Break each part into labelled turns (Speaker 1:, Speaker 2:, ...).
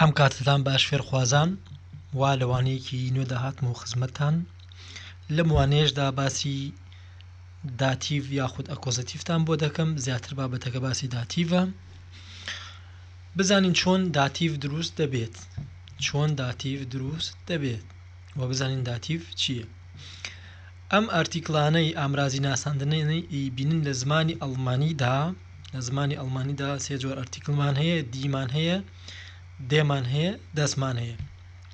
Speaker 1: ئەم کاتتان باش فێرخوازان وا لەوانەیەکی نوێ داهاتمە و خزمەتتان لەم وانەیەشدا باسی داتیڤ یاخود ئەکۆزتیفتان بۆ دەکەم زیاتر بابەتەکە باسی داتیڤە بزانین چۆن داتیڤ دروست دەبێت چۆن داتیڤ دروست دەبێت و بزانین داتیڤ چییە ئەم ئارتیکلانەی ئامرازی ناساندنێنەی بینن لە زمانی ئەڵمانیدا لە زمانی ئەڵمانیدا سێ جۆر ئەرتیکلمان هەیە دیمان هەیە دێمان هەیە دەسمان هەیە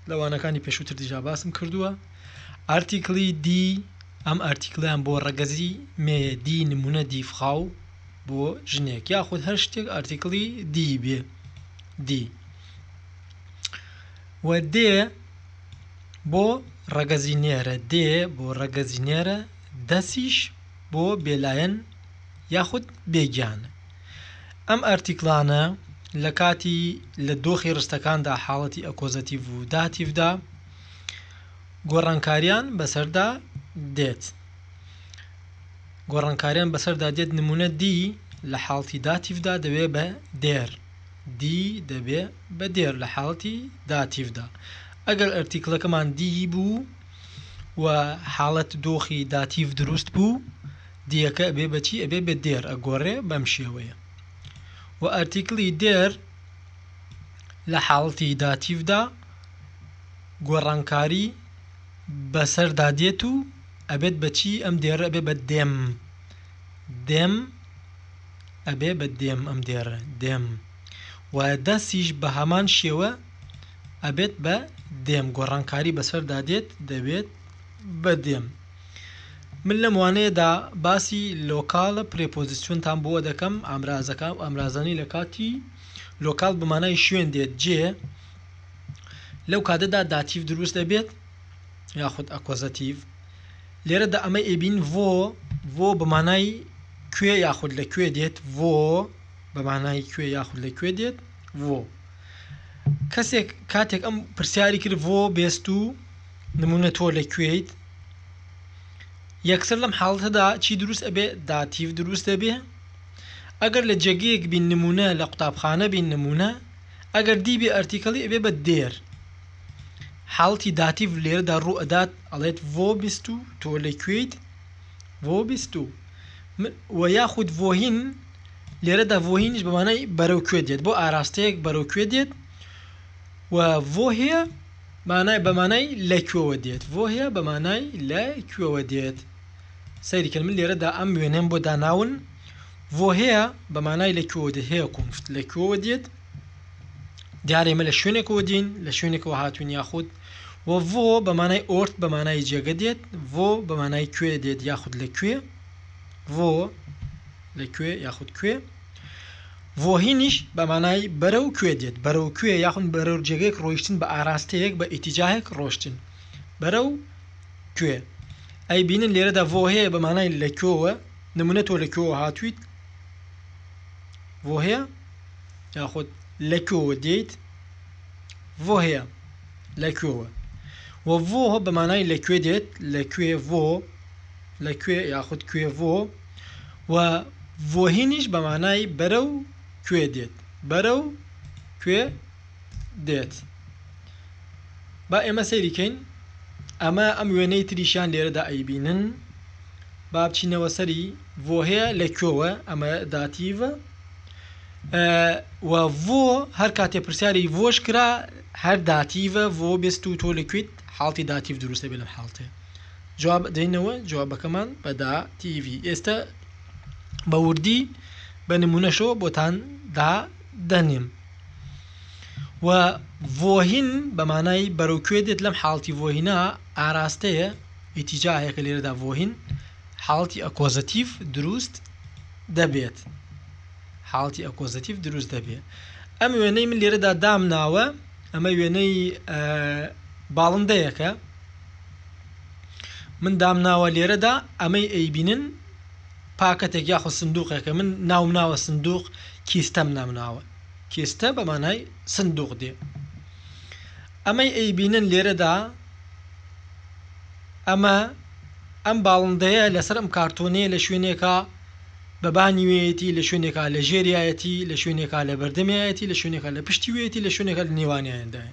Speaker 1: لە وانەکانی پێشووتر دیجا باسم کردووە ئارتیکلی دی ئەم ئارتیکلیان بۆ ڕەگەزی مێیە دی نمونە دیفخاو بۆ ژنێک یاخود هەر شتێک ئارتیکلی دی بێ دی و دێ بۆ ڕەگەزی نێرە دێ بۆ ڕەگەزی نێرە دەسیش بۆ بێلایەن یاخود بێ گیان. ئەم ئارتیکڵانە لە کاتی لە دۆخی ڕستەکاندا حاڵەتی ئەکۆزەتیڤ و داتیڤدا گۆڕانکاریان بەسەردا دێت. گۆڕانکاریان بەسەردا دێت نمونە دی لە حاڵتی داتیڤدا دەوێ بە دێر دی دەبێ بە دێر لە حاڵتی داتیڤدا ئەگەر ئەرتیکلەکەمان دی بوو و حاڵەت دۆخی داتیڤ دروست بوو دیەکە ئەبێ بە چی ئەبێ بە دێر ئەگۆڕێ بەم شێوەیە و ئەرتیکلی دێر لە حاڵتی داتیڤدا گۆڕانکاری بەسەردا دێت و ئەبێت بە چی ئەم دێر ئەبێ بە دێم دێم ئەبێ بە دێم ئەم دێر دێم و دەستیش بە هەمان شێوە ئەبێت بە دێم گۆڕانکاری بەسەردا دێت دەبێت بە دێم من لەم وانەیەدا باسی لۆکاڵە پرێپۆزیسیۆنتان بۆ دەکەم ئامرازەکە و ئامرازانی لە کاتی لۆکاڵ بەمانای شوێن دێت جێ لەو کاتەدا داتیف دروست دەبێت یاخود ئەکۆزەتیف لێرە دا ئەمە ئێبین ڤۆ ڤۆ بەمانای کوێ یاخود لە کوێ دێت ڤۆ بەمانای کوێ یاخود لە کوێ دێت ڤۆ کەسێک کاتێک ئەم پرسیاری کرد ڤۆ بێست و نمونە تۆ لە کوێیت یەکسەر لەم حاڵەتەدا چی دروست ئەبێ داتیڤ دروست دەبێ ئەگەر لە جێگەیەک بین نمونە لە قوتابخانە بین نمونە ئەگەر دیبێ ئەرتیکەڵی ئەبێ بە دێر حاڵتی داتیڤ لێرەدا ڕوو ئەدات ئەڵێت ڤۆ بیست و تۆ لە کوێیت ڤۆ بیست و و یاخود ڤۆهین لێرەدا ڤۆهینش بەمانای بەرەو کوێ دێت بۆ ئاراستەیەک بەرەو کوێ دێت و ڤۆهەیە مانای بە مانای لە کوێوە دێت ڤۆهیا بە مانای لە کوێوە دێت سەیری کرد من لێرەدا ئەم وێنەم بۆ داناون ڤۆهەیە بە مانای لە کوێوە دێت هەیە کۆنفت لە کوێوە دێت دیارە ئێمە لە شوێنێکەوە دین لە شوێنێکەوە هاتوون یاخود و ڤۆ بە مانای ئۆرت بە مانای جێگە دێت ڤۆ بە مانای کوێ دێت یاخود لە کوێ ڤۆ لە کوێ یاخود کوێ ڤۆهینیش بە مانای بەرەو کوێ دێت، بەرەو کوێ یاخود بەرەو جێگەیەک ڕۆیشتن بە ئاراستەیەک، بە ئیتیجاهێک ڕۆشتن بەرەو کوێ. ئەی بینن لێرەدا ڤۆهێ بە مانای لە کوێوە، نمونە تۆ لە کوێوە هاتوویت، ڤۆهێ، یاخود لە کوێوە دێیت، ڤۆهێ، لە کوێوە. وە ڤۆ بە مانای لە کوێ دێت، لە کوێ ڤۆ، لە کوێ یاخود کوێ ڤۆ. و ڤۆهینیش بە مانای بەرەو کوێ دێت بەرەو کوێ دێت با ئێمە سەیریکەین ئەمە ئەم وێنەی تریشیان لێرەدا ئەیبینن با بچینەوە سەری بۆ هەیە لە کوێوە ئەمە داتیڤە و بۆ هەر کاتێ پرسیاری بۆش کرا هەر داتیڤە بۆ بست و تۆ لەکویت حاڵی داتیف دروستە بێ لەم حاڵتێ جواب ئەدەینەوە جوابەکەمان بە دا تیڤی ئێستا بە وردی بە نمونەشەوە بۆتان دا دەنێم و ڤۆهین بەمانای بەرەو کوێ دێت لەم حاڵتی ڤۆهینا ئاراستەیە ئیتیجاهەیە کە لێرەدا ڤۆهین حاڵتی ئەکۆزەتیف دروست دەبێت حاڵتی ئەکۆزەتیف دروست دەبێت ئەم وێنەی من لێرەدا دامناوە ئەمە وێنەی باڵندەیەکە من دامناوە لێرەدا ئەمەی ئەیبینن پاکەتێک یاخود سندوقێکە من ناوم ناوە سندوق کیستەم نامناوە کیستە بەمانای سندوق دێ ئەمەی ئەیبینن لێرەدا ئەمە ئەم باڵندەیە لەسەر ئەم کارتۆنەیە لە شوێنێکە بە بانیوێتی لە شوێنێکا لە ژێریایەتی لە شوێنێکا لە بەردەمیایەتی لە شوێنێکا لە پشتیوێتی لە شوێنێکە لە نێوانیاندای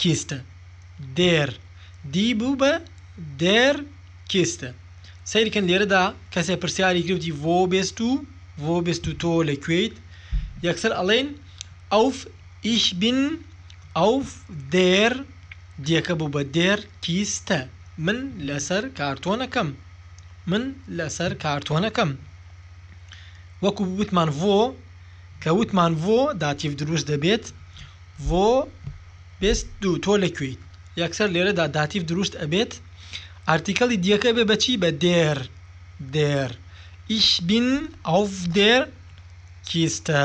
Speaker 1: کیستە دێر دی بوو بە دێر کیستە سەیر کەن لێرەدا کەسێ پرسیاری گرفتی ڤۆ بێست و ڤۆ بێست و تۆ لە کوێیت یەکسەر ئەڵێن ئەوف ئیش بین ئەوف دێر دیەکە بوو بە دێر کیستە من لەسەر کارتۆنەکەم من لەسەر کارتۆنەکەم وەکو بوتمان ڤۆ کە وتمان ڤۆ داتیڤ دروست دەبێت ڤۆ بێست دوو تۆ لە کوێیت؟ یەکسەر لێرەدا داتیڤ دروست ئەبێت ئارتیکەڵی دیەکە ئەبێ بە چی بە دێر دێر ئیش بین ئەڤ دێر کیستە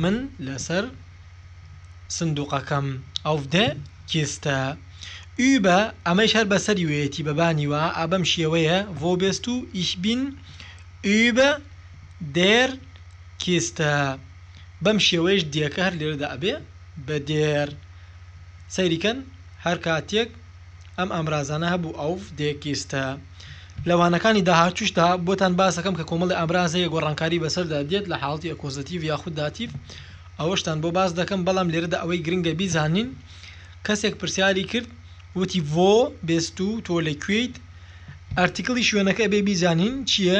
Speaker 1: من لەسەر سندوقەکەم ئەڤ دێ کیستە ئوبە ئەمەیش هەر بەسەری وێتی بەبانی وە ئابەم شێوەیە ڤۆ بێست و ئیش بین ئوبە دێر کیستە بەم شێوەیەش دێکە هەر لێرەدا ئەبێ بە دێر. سەیری کەن هەر کاتێک ئەم ئامرازانە هەبوو ئەوڤ دێکیستە. لە وانەکانی داهاتووشدا بۆتان باس دەکەم کە کۆمەڵی ئامراز هەیە گۆڕانکاری بەسەردا دێت لە حاڵەتی ئەکۆزەتیڤ یاخود داتیڤ ئەوەشتان بۆ باس دەکەم بەڵام لێرەدا ئەوەی گرنگە بیزانین کەسێک پرسیاری کرد وتی ڤۆ بێستوو تۆ لە کوێیت ئەرتیکڵی شوێنەکە ئەبێ بیزانین چییە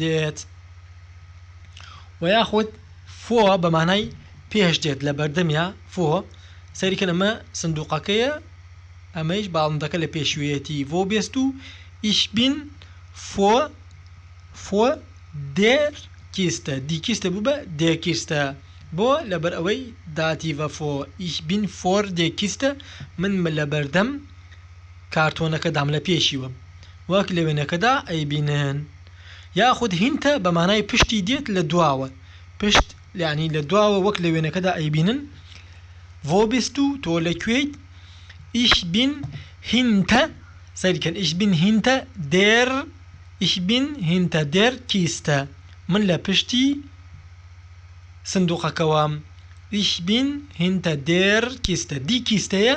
Speaker 1: دێت وە یاخود فۆ بە مانای پێش دێت لە بەردەمیا فۆ سەریکە نەمە سندوقەکەیە ئەمەیش باڵندەکە لە پێشوێتی ڤۆ بێست و ئیش بین فۆ فۆ دێر کیستە دیکیستە بوو بە دێکیستە بۆ لەبەر ئەوەی داتی ڤەفۆ ئیش بین فۆر دێکیستە من لە بەردەم کارتۆنەکەدام لە پێشیوە وەک لە وێنەکەدا ئەیبینن یاخود هینتە بە مانای پشتی دێت لە دواوە پشت یعنی لە دواوە وەک لە وێنەکەدا ئەیبینن ڤۆ بیست و تۆ لە کوێیت ئیش بین هینتە سەیرکەن ئیش بین هینتە دێر ئیش بین هینتە دێر کیستە من لە پشتی سندوقەکەوە ئیش بین هینتە دێر کیستە دی کیستەیە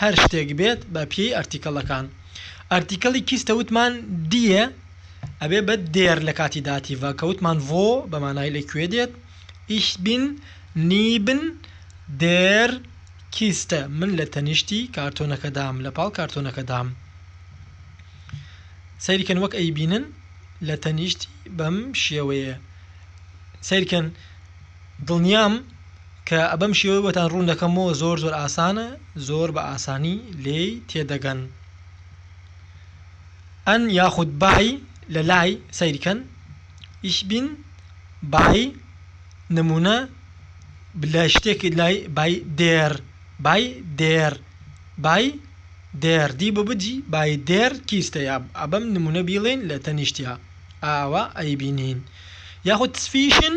Speaker 1: هەر شتێک بێت بە پێی ئەرتیکەڵەکان ئەرتیکەڵی کیستە وتمان دیێ ئەبێ بە دێر لە کاتی داتیڤە کە وتمان ڤۆ بە مانای لە کوێ دێت ئیش بین نیبن دێر کیستە من لە تەنیشتی کارتۆنەکەدام لە پاڵ کارتۆنەکەدام سەیرکەن وەک ئەی بینن لە تەنیشتی بەم شێوەیە سەیرکەن دڵنیام کە بەم شێوەی بۆتان ڕوون دەکەمەوە زۆر زۆر ئاسانە زۆر بە ئاسانی لێی تێدەگەن ئەن یاخود بای لە لای سەیرکەن ئیش بین بای نمونە لە شتێکی لای بای دێر بای دێر بای دێر دی بە بجی بای دێر کیستە یا ئەبەم نمونە بیڵێن لە تەنیشتیا ئاوا ئەیبینین یاخود تسفیشن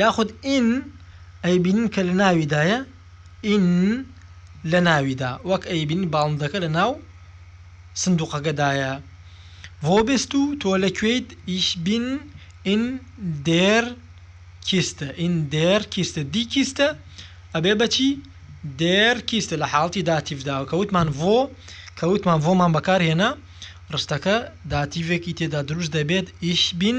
Speaker 1: یاخود ئین ئەیبینن کە لە ناویدایە ئین لە ناویدا وەک ئەیبینن باڵندەکە لە ناو سندوقەکەدایە وۆ بیست و تۆ لە کوێیت ئیش بین ئین دێر کیستە ئین دێر کیستە دی کیستە ئەبێ بەچی دێر کیستە لە حاڵتی داتیفداوە کە وتمان وۆ کە وتمان وۆمان بەکارهێنا ڕستەکە داتیڤێکی تێدا دروست دەبێت ئیش بین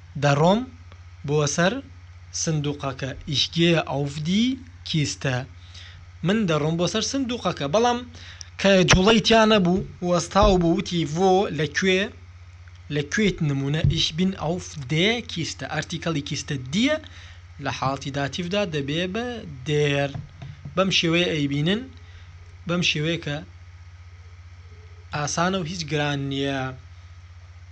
Speaker 1: دەڕۆم بۆ سەر سندوقەکە ئیش گێە ئەوف دی کیستە من دەڕۆم بۆ سەر سندوقەکە بەڵام کە جوڵەی تیا نەبوو وەستاو بوو وتی ڤۆ لە کوێ لە کوێیت نمونە ئیش بین ئەوف دێ کیستە ئەرتیکەڵی کیستە دیە لە حاڵتی داتیڤدا دەبێ بە دێر بەم شێوەیە ئەیبینن بەم شێوەیە کە ئاسانە و هیچ گران نییە.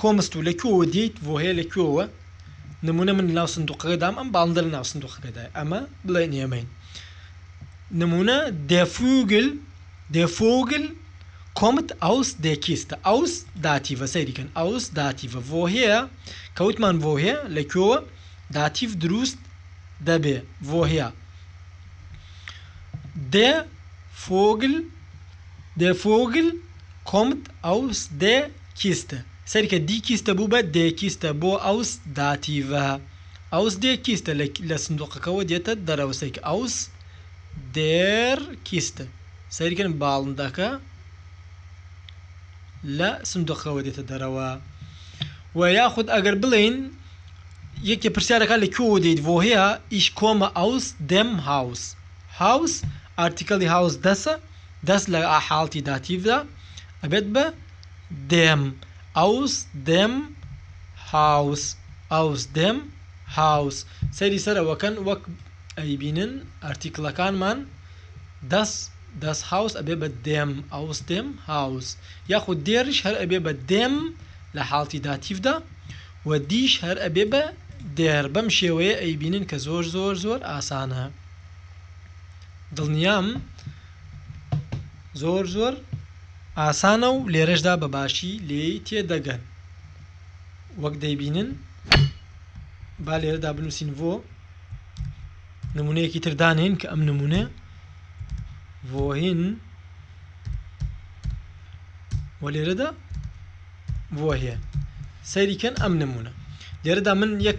Speaker 1: کۆمست و لە کوێوە دێیت بۆ هەیە لە کوێوە نمونە من ناو سندوقەکە دام ئەم باڵندە لە ناو سندوقەکەدای ئەمە بڵێن ئێمەین نمونە دێفوگل دێفۆگل کۆمت ئەوس دێکیستە ئەوس داتیڤە سەیریکەن ئەوس داتیڤە بۆ هەیە کەوتمان بۆ هەیە لە کوێوە داتیڤ دروست دەبێ بۆ هەیە دێ فۆگل دێ فۆگل کۆمت ئەوس دێ کیستە، سەیری کە دی کیستە بوو بە دێ کیستە بۆ ئەوس داتیڤە. ئەوس دێ کیستە لە سندووقەکەوە دێتە دەرەوە سەیری کە ئەوس دێر کیستە، سەیری کەن باڵندەکە لە سندووقەکەوە دێتە دەرەوە. و یاخود ئەگەر بڵێین یەکێ پرسیارەکە لە کوێوە دێیت ڤۆهیا ئیش کۆمە ئەوس دێم هاوس. هاوس ئارتیکەلی هاوس دەسە دەس لە حاڵتی داتیڤدا ئەبێت بە دێم ئەوس دێم هاوس ئەوس دێم هاوس سەیری سەرەوەکەن وەک ئەیبینن ئارتیکلەکانمان دەس دەس هاوس ئەبێ بە دێم ئەوس دێم هاوس یاخود دێریش هەر ئەبێ بە دێم لە حاڵتی داتیڤدا و دیش هەر ئەبێ بە دێر بەم شێوەیە ئەیبینن کە زۆر زۆر زۆر ئاسانە دڵنیام زۆر زۆر ئاسانە و لێرەشدا بە باشی لێی تێدەگەن وەک دەیبینن با لێرەدا بنووسین بۆ نمونەیەکی تردانین کە ئەم نمونە بۆهین و لێرەدا بۆهێ سەیریکەن ئەم نمونە لێرەدا من یەک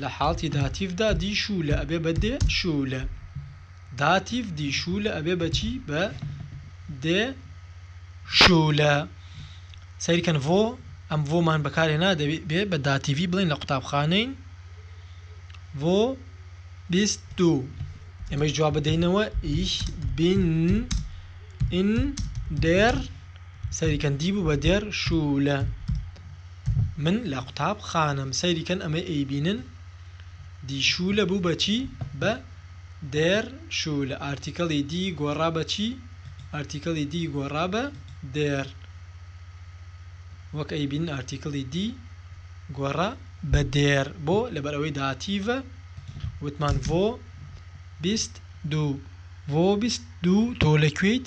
Speaker 1: لە حاڵتی داتیڤدا دی شوو لە ئەبێ بە دێ شوو لە. داتیڤ دی شوو لە ئەبێ بە چی؟ بە دێ شوو لە. سەیر کەن ڤۆ ئەم ڤۆمان بەکارهێنا دەبێ بە داتیڤی بڵێین لە قوتابخانەین ڤۆ بیست دوو. ئێمەی جواب بدەینەوە ئیش بین ئین دێر سەیری کەن دیبو بە دێر شولە من لە قوتاب خانەم سەیری کەن ئەمەی ئەی بینن دی شولە بو بە چی بە دێر شولە ئارتیکەڵی دی گۆڕا بە چی ئارتیکەڵی دی گۆڕا بە دێر وەک ئەی بینن ئارتیکەڵی دی گۆڕا بە دێر بۆ لەبەر ئەوەی داتیڤە وتمان ڤۆ بیست دوو ڤۆ بیست دوو تۆ لە کوێیت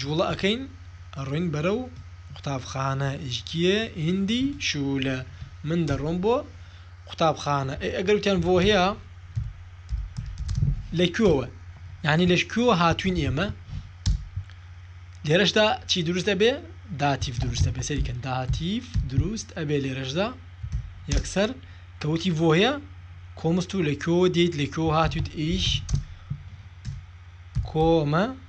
Speaker 1: جوڵە ئەکەین ئەڕۆین بەرەو قوتابخانە ئیجگیێ ئیندی شولە من دەڕۆم بۆ قوتابخانە ئەی ئەگەر وتیان بۆ هەیە لە کوێوە یعنی لەش کوێوە هاتوین ئێمە لێرەشدا چی دروست ئەبێ داتیف دروستە بێ سەریکەن داتیف دروست ئەبێ لێرەشدا یەکسەر کەوتی بۆ هەیە کۆمست و لە کوێوە دیت لە کوێوە هاتویت ئیش کۆمە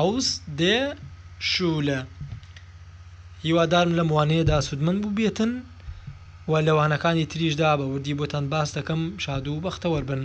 Speaker 1: عوس دێ شولە هیوادارم لەم وانەیەدا سودمەند بوبێتن و لە وانەکانی تریشدا بە وردی بۆتان باس دەکەم شادو بەختەوەربن.